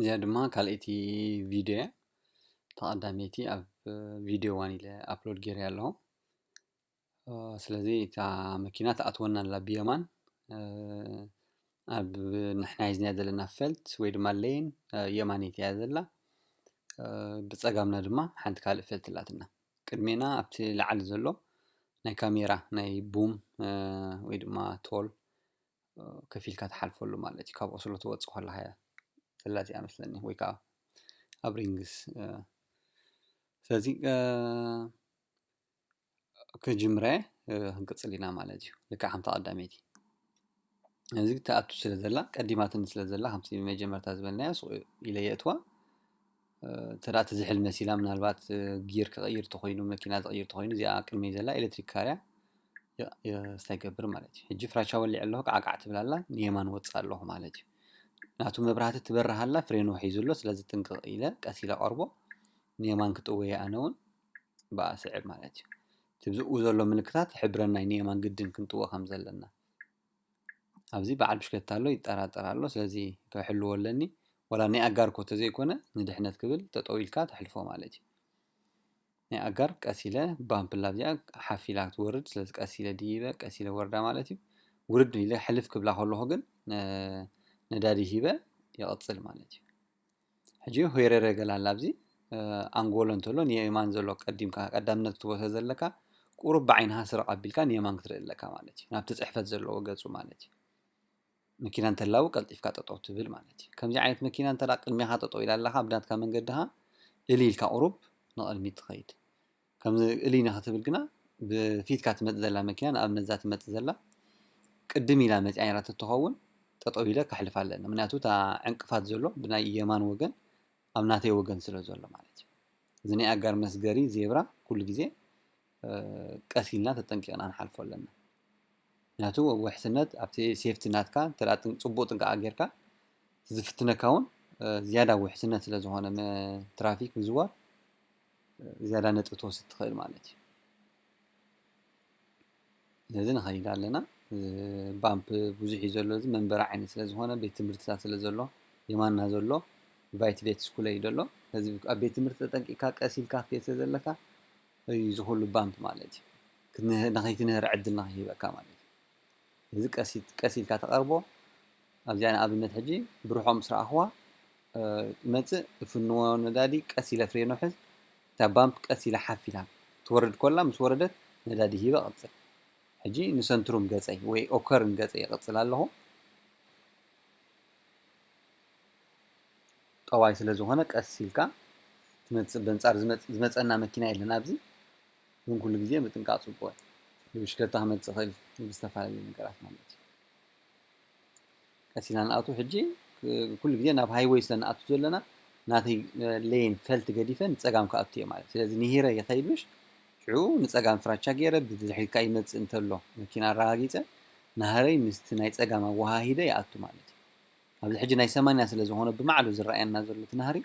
እዚኣ ድማ ካልኣይቲ ቪድዮ እያ ተቀዳመይቲ ኣብ ቪድዮ ዋን ኢለ ኣፕሎድ ገይረ ኣለኹ ስለዚ እታ መኪና ትኣትወና ኣላ ብየማን ኣብ ንሕና ሒዝናያ ዘለና ፈልት ወይ ድማ ሌን የማነይቲ እያ ዘላ ብፀጋምና ድማ ሓንቲ ካልእ ፈልት ኣላትና ቅድሜና ኣብቲ ላዓሊ ዘሎ ናይ ካሜራ ናይ ቡም ወይ ድማ ቶል ከፊልካ ትሓልፈሉ ማለት እዩ ካብ ኦስሎ ትወፅእ ከለኻ እያ ዘላ እዚኣ መስለኒ ወይ ከዓ ኣብ ሪንግስ ስለዚ ክጅምረ ክንቅፅል ኢና ማለት እዩ ልክዕ ከምታ ቀዳመይቲ እዚ ትኣቱ ስለ ዘላ ቀዲማትኒ ስለ ዘላ ከምቲ መጀመርታ ዝበልናዮ ሱቅ ኢለ የእትዋ እንተ እቲ ዝሕል መሲላ ምናልባት ጊር ክቕይር ተኾይኑ መኪና ዝቕይር ተኾይኑ እዚኣ ቅድመይ ዘላ ኤሌክትሪክ ካርያ ስታይ ይገብር ማለት እዩ ሕጂ ፍራቻ ወሊዕ ኣለኹ ቃዕቃዕ ትብል ኣላ ንየማን ወፅእ ኣለኹ ማለት እዩ ናቱ መብራህቲ ትበርህ ኣላ ፍሬኑ ሒዙ ኣሎ ስለዚ ጥንቅቕ ኢለ ቀስ ኢለ ቀርቦ ንየማን ክጥወየ ኣነ እውን ብኣ ስዕብ ማለት እዩ ትብዝኡ ዘሎ ምልክታት ሕብረናይ ንየማን ግድን ክንጥወ ከም ዘለና ኣብዚ በዓል ብሽክለታ ኣሎ ይጠራጠር ኣሎ ስለዚ ክሕልዎ ኣለኒ ወላ ናይ ኣጋር እኮ ተዘይኮነ ንድሕነት ክብል ጠጠው ኢልካ ተሕልፎ ማለት እዩ ናይ ኣጋር ቀስ ኢለ ባምፕላ እዚኣ ሓፍ ኢላ ክትወርድ ስለዚ ቀስ ኢለ ድይበ ቀስ ኢለ ወርዳ ማለት እዩ ውርድ ኢለ ሕልፍ ክብላ ከለኹ ግን ነዳዲ ሂበ ይቕፅል ማለት እዩ ሕጂ ሆይረረ ገለ ኣላ ኣብዚ ኣንጎሎ እንተሎ ንየማን ዘሎ ቀዲምካ ቀዳምነት ክትቦ ስለ ዘለካ ቁሩብ ብዓይንኻ ስረቕ ኣቢልካ ንየማን ክትርኢ ኣለካ ማለት እዩ ናብቲ ጽሕፈት ዘለዎ ገጹ ማለት እዩ መኪና እንተላው ቀልጢፍካ ጠጠው ትብል ማለት እዩ ከምዚ ዓይነት መኪና እንተ ቅድሜኻ ጠጠው ኢላ ኣለኻ ብናትካ መንገድኻ እሊ ኢልካ ቁሩብ ንቕድሚት ትኸይድ ከምዚ እልይ ንክትብል ግና ብፊትካ ትመጽእ ዘላ መኪና ንኣብነት እዛ ትመጽእ ዘላ ቅድም ኢላ መጺኣ ነራ ተትኸውን ጠጠው ኢለ ከሕልፋ ኣለኒ ምክንያቱ እታ ዕንቅፋት ዘሎ ብናይ የማን ወገን ኣብ ናተይ ወገን ስለ ዘሎ ማለት እዩ እዚ ናይ ኣጋር መስገሪ ዜብራ ኩሉ ግዜ ቀስ ኢልና ተጠንቂቕና ንሓልፎ ኣለና ምክንያቱ ውሕስነት ኣብቲ ሴፍቲ ናትካ እንተ ፅቡቅ ጥንቃቐ ጌርካ እቲ ዝፍትነካ እውን ዝያዳ ውሕስነት ስለ ዝኾነ ትራፊክ ምዝዋር ዝያዳ ነጥቢ ትወስድ ትኽእል ማለት እዩ ነዚ ንኸይድ ኣለና ባምፕ ብዙሕ እዩ ዘሎ እዚ መንበሪ ዓይነት ስለ ዝኾነ ቤት ትምህርትታት ስለ ዘሎ የማና ዘሎ ቫይት ቤት ስኩለ እዩ ዘሎ እዚ ኣብ ቤት ትምህርቲ ተጠንቂቕካ ቀስ ኢልካ ክትከይድ ስለ ዘለካ እዩ ዝኹሉ ባምፕ ማለት እዩ ንኸይትንህር ዕድል ንኸይህበካ ማለት እዩ እዚ ቀስ ቀስ ኢልካ ተቐርቦ ኣብዚኣ ንኣብነት ሕጂ ብርሖ ምስ ረኣኽዋ መጽእ እፍንዎ ነዳዲ ቀስ ኢለ ፍሬኖ ሕዝ እታ ባምፕ ቀስ ኢላ ሓፍ ኢላ ትወርድ ኮላ ምስ ወረደት ነዳዲ ሂበ ቀጽል ሕጂ ንሰንትሩም ገጸይ ወይ ኦከርን ገጸይ ይቐጽል ኣለኹ ጠዋይ ስለ ዝኾነ ቀስ ኢልካ ትመጽእ በንጻር ዝመጸና መኪና የለን ኣብዚ ግን ኩሉ ግዜ ምጥንቃቅ ጽቡቅ እዩ ብብሽክለታ ክመጽእ ይክእል እዩ ብዝተፈላለዩ ነገራት ማለት እዩ ቀስ ኢልና ንኣቱ ሕጂ ኩሉ ግዜ ናብ ሃይወይ ስለ ንኣቱ ዘለና ናተይ ሌን ፈልቲ ገዲፈ ንጸጋም ክኣቱ እየ ማለት ስለዚ ንሂረ ይኸይድ ምሽ ሽዑ ንጸጋም ፍራቻ ገይረ ብድሕሪት ከዓ ይመጽእ እንተሎ መኪና ኣረጋጊጸ ናህረይ ምስቲ ናይ ጸጋም ኣወሃሂደ ይኣቱ ማለት እዩ ኣብዚ ሕጂ ናይ ሰማንያ ስለ ዝኾነ ብማዕሉ ዝረኣየና ዘሎ እቲ ናህሪ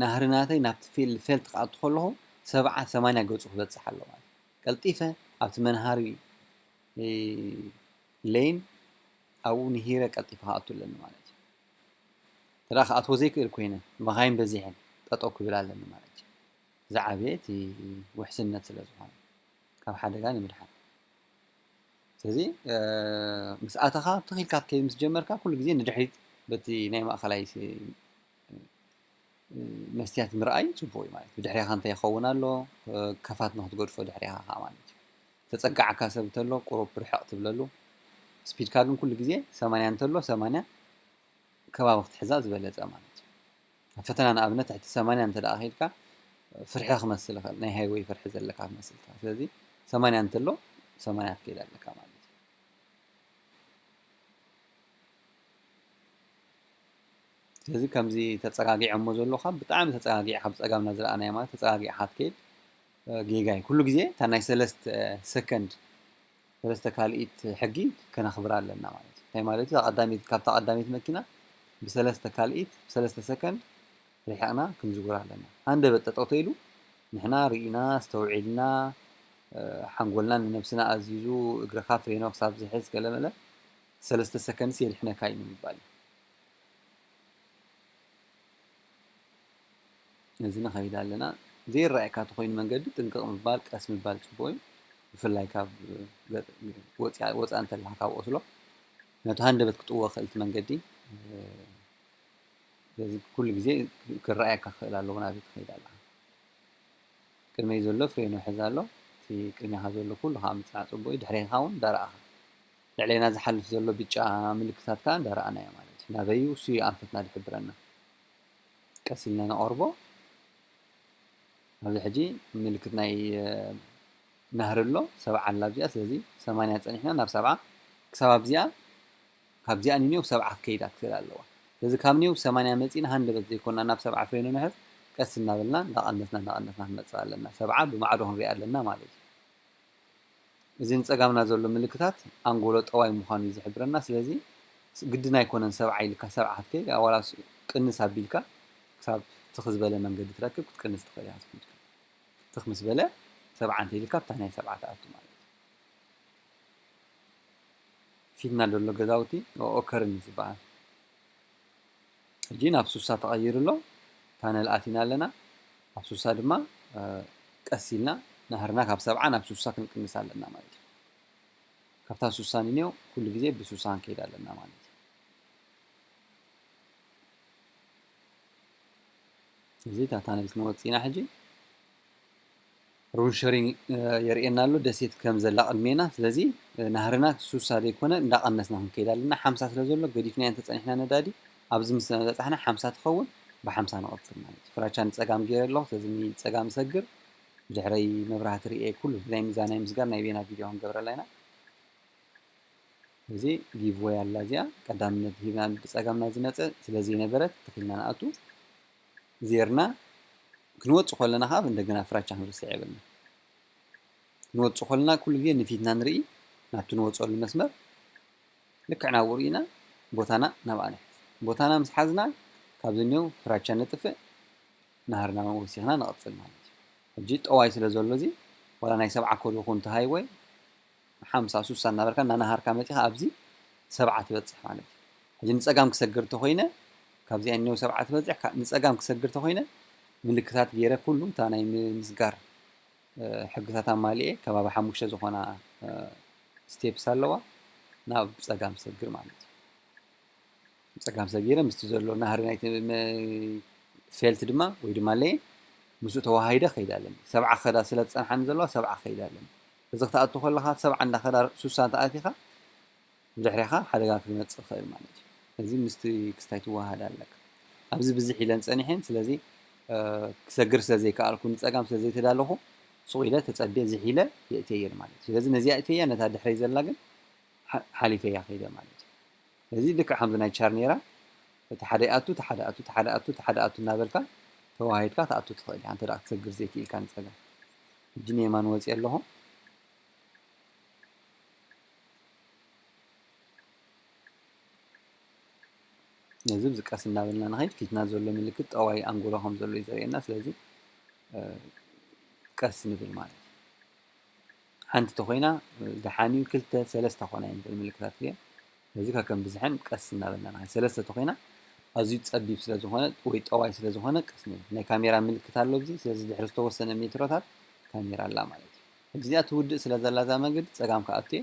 ናህሪ ናተይ ናብቲ ፊልድ ፌልት ክኣቱ ከለኹ ሰብዓ ሰማንያ ገጹ ክበጽሕ ኣለዎ ማለት ቀልጢፈ ኣብቲ መንሃሪ ለይን ኣብኡ ንሂረ ቀልጢፈ ክኣቱ ኣለኒ ማለት እዩ እንተ ክኣትዎ ዘይክእል ኮይነ መኻይን በዚሐን ጠጠው ክብል ኣለኒ ማለት እዩ ዝዓበየ እቲ ውሕስነት ስለ ዝኾነ ካብ ሓደጋ ንምድሓን ስለዚ ምስ ኣተኻ ትኺልካ ክትከይድ ምስ ጀመርካ ኩሉ ግዜ ንድሕሪት በቲ ናይ ማእኸላይ መስትያት ምርኣይ ጽቡቕ እዩ ማለት እዩ። ድሕሬኻ እንታይ ይኸውን ኣሎ ከፋት ንክትገድፎ ድሕሬኻ ከኣ ማለት እዩ። ተጸጋዕካ ሰብ እንተሎ ቁሩብ ርሕቕ ትብለሉ። ስፒድካ ግን ኩሉ ግዜ ሰማንያ እንተሎ ሰማንያ ከባቢ ክትሕዛ ዝበለጸ ማለት እዩ። ኣብ ፈተና ንኣብነት ትሕቲ ሰማንያ እንተ ደኣ ኬድካ ፍርሒ ክመስል ይኽእል፣ ናይ ሃይወይ ፍርሒ ዘለካ ክመስል ይኽእል። ስለዚ ሰማንያ እንተሎ ሰማንያ ክትከይድ ኣለካ ማለት እዩ። ስለዚ ከምዚ ተጸጋጊዖሞ ዘሎካ ብጣዕሚ ተጸጋጊዕካ ብጸጋምና ዝረኣናዮ ማለት ተጸጋጊዕካ ትከይድ ጌጋ እዩ ኩሉ ግዜ እታ ናይ ሰለስተ ሰከንድ ሰለስተ ካልኢት ሕጊ ከነኽብራ ኣለና ማለት እዩ እንታይ ማለት እዩ ኣቐዳሚት ካብታ ቀዳሚት መኪና ብሰለስተ ካልኢት ብሰለስተ ሰከንድ ርሒቕና ክንዝውር ኣለና ሃንደበት ጠጠው ኢሉ ንሕና ርኢና ኣስተውዒልና ሓንጎልና ንነብስና ኣዚዙ እግርኻ ፍሬኖ ክሳብ ዝሕዝ ገለመለ ሰለስተ ሰከንድስ የድሕነካ እዩ ንምባል እዩ ነዚ ንኸይድ ኣለና ዘይረኣየካ ተኮይኑ መንገዲ ጥንቅቕ ምባል ቀስ ምባል ፅቡቅ እዩ ብፍላይ ካብ ወፃእ እንተለካ ካብ ኦስሎ ነቲ ሃንደበት ክጥዎ ክእልቲ መንገዲ ስለዚ ኩሉ ግዜ ክረኣየካ ክኽእል ኣለዎ ናበይ ትኸይድ ኣለካ ቅድመይ ዘሎ ፍሬኑ ሕዝ ኣሎ እቲ ቅድሜኻ ዘሎ ኩሉ ከዓ ምፅናዕ ፅቡቅ እዩ ድሕሬኻ እውን ዳርኣኻ ልዕሌና ዝሓልፍ ዘሎ ብጫ ምልክታት ከኣ እንዳ ረኣናዮ ማለት እዩ። ናበይ እዩ እሱ እዩ ኣንፈትና ዝሕብረና። ቀስ ኢልና ነቐርቦ። ኣብዚ ሕጂ ምልክት ናይ ናህሪ ኣሎ ሰብዓ ኣላ ኣብዚኣ ስለዚ ሰማንያ ጸኒሕና ናብ ሰብዓ ክሳብ ኣብዚኣ ካብዚኣ ንኔው ሰብዓ ክከይዳ ክትክእል ኣለዋ። ስለዚ ካብ ኔው ሰማንያ መጺና ሃንደበት ዘይኮና ናብ ሰብዓ ፍሬኑ ንሕዝ ቀስ እናበልና እንዳቐነስና እንዳቐነስና ክንመጽእ ኣለና። ሰብዓ ብማዕዶ ክንሪኣ ኣለና ማለት እዩ። እዚ ንጸጋምና ዘሎ ምልክታት ኣንጎሎ ጠዋይ ምዃኑ እዩ ዝሕብረና ስለዚ ግድን ኣይኮነን ሰብዓ ኢልካ ሰብዓ ክትከይድ ዋላስ ቅንስ ኣቢልካ ክሳብ ትኽ ዝበለ መንገዲ ትረክብ ክትቅንስ ትኽእል ኢኻ ትኽ ኢልካ ትኽ ምስ በለ ሰብዓ እንተይልካ ኣብታ ናይ ሰብዓ ትኣቱ ማለት ፊትና ደሎ ገዛውቲ ኦከርን እዩ ዝበሃል ሕጂ ናብ ሱሳ ተቐይሩ ኣሎ፣ ፓነል ኣቲና ኣለና፣ ኣብ ሱሳ ድማ ቀስ ኢልና ናህርና ካብ ሰብዓ ናብ ሱሳ ክንቅንስ ኣለና ማለት እዩ። ካብታ ሱሳ ንንዮ ኩሉ ግዜ ብሱሳ ክንከይድ ኣለና ማለት እዩ። እዚ እታ ታነል ክንወጽእ ኢና ሕጂ። Room sharing የርእየና ኣሎ ደሴት ከም ዘላ ቅድሜና ስለዚ ናህርና ሱሳ ዘይኮነ እንዳቀነስና ክንከይድ ኣለና ሓምሳ ስለ ዘሎ ገዲፍናዮ እንተጸኒሕና ነዳዲ ኣብዚ ምስ በጻሕና ሓምሳ ትኸውን ብሓምሳ ንቕጽል ማለት እዩ ፍራቻ ንጸጋም ገይረ ኣለኹ ስለዚ ንጸጋም እሰግር ብድሕረይ መብራህቲ ርእየ ኩሉ እዚ ናይ ምዛናይ ምስጋር ናይ ቤና ቪድዮ ክንገብረላ ኢና እዚ ጊቭወይ ኣላ እዚኣ ቀዳምነት ሂብና ብጸጋምና ዝመጸ ስለ ዘይነበረት ተኺልና ንኣቱ ዜርና ክንወጽእ ከለና ከኣ እንደገና ፍራቻ ክንርስዕ የብልናን። ክንወጽእ ከለና ኩሉ ግዜ ንፊትና ንርኢ፣ ናብቲ ንወጸሉ መስመር ልክዕ ናብኡ ርኢና ቦታና ናብኣ ንሕዝ። ቦታና ምስ ሓዝና ካብ ዝንሄው ፍራቻ ነጥፍእ፣ ናህርና ወሲኽና ንቕጽል ማለት እዩ። ሕጂ ጠዋይ ስለ ዘሎ እዚ ዋላ ናይ ሰብዓ ኮሎ ኩን ተሃይወ፣ ሓምሳ ሱሳ እናበልካ እናነሃርካ መጺኻ ኣብዚ ሰብዓ ትበጽሕ ማለት እዩ። ሕጂ ንጸጋም ክሰግር እንተኾይነ ካብዚኣ ኔው ሰብዓ ትበጽሕ ካ ንጸጋም ክሰግር እንተኾይነ ምልክታት ገይረ ኩሉ እታ ናይ ምስጋር ሕግታት ኣማሊኤ ከባቢ ሓሙሽተ ዝኾና ስቴፕስ ኣለዋ ናብ ጸጋም ሰግር ማለት እዩ። ጸጋም ሰጊረ ምስቲ ዘሎ ናህሪ ናይቲ ፌልት ድማ ወይ ድማ ለይን ምስኡ ተዋሃሂደ ከይድ ኣለኒ ሰብዓ ክኸዳ ስለ ዝጸንሓኒ ዘለዋ ሰብዓ ከይድ ኣለኒ እዚ ክትኣቱ ከለኻ ሰብዓ እንዳኸዳር ሱሳ እንተ ኣቲኻ ብድሕሬኻ ሓደጋ ክመጽእ ይኽእል ማለት እዩ ስለዚ ምስቲ ክስታይ ትወሃሃድ ኣለካ ኣብዚ ብዝሕ ኢለን ጸኒሐን ስለዚ ክሰግር ስለ ዘይከኣልኩ ንጸጋም ስለ ዘይተዳለኹ ሱቕ ኢለ ተጸቤ ዝሕ ኢለ የእትየየን ማለት እዩ ስለዚ ነዚኣ እትየያ ነታ ድሕረይ ዘላ ግን ሓሊፈያ ከይደ ማለት እዩ ስለዚ ልክዕ ከምዚ ናይ ቻርኔራ እቲ ሓደ ይኣቱ እቲ ሓደ ኣቱ እቲ ሓደ ኣቱ እቲ ሓደ ኣቱ እናበልካ ተዋሂድካ ትኣቱ ትኽእል ኢኻ እንተ ክትሰግር ዘይክኢልካ ንጸጋም ሕጂ ንየማን ወጺኤ ኣለኹ። ነዚ እዚ ቀስ እናበልና ንኸይድ ፊትና ዘሎ ምልክት ጠዋይ ኣንጎሎ ከም ዘሎ እዩ ዘርእየና ስለዚ ቀስ ንብል ማለት እዩ ሓንቲ ተኮይና ደሓን እዩ ክልተ ሰለስተ ኮና እየን ምልክታት እየ ስለዚ ከከም ብዝሐን ቀስ እናበልና ንኸይድ ሰለስተ ተኾይና ኣዝዩ ጸቢብ ስለ ዝኾነ ወይ ጠዋይ ስለ ዝኾነ ቀስ ንብል ናይ ካሜራ ምልክት ኣሎ ኣብዚ ስለዚ ድሕሪ ዝተወሰነ ሜትሮታት ካሜራ ኣላ ማለት እዩ ሕጂ እዚኣ ትውድእ ስለ ዘላ እዛ መንገዲ ጸጋም ክኣቱ እየ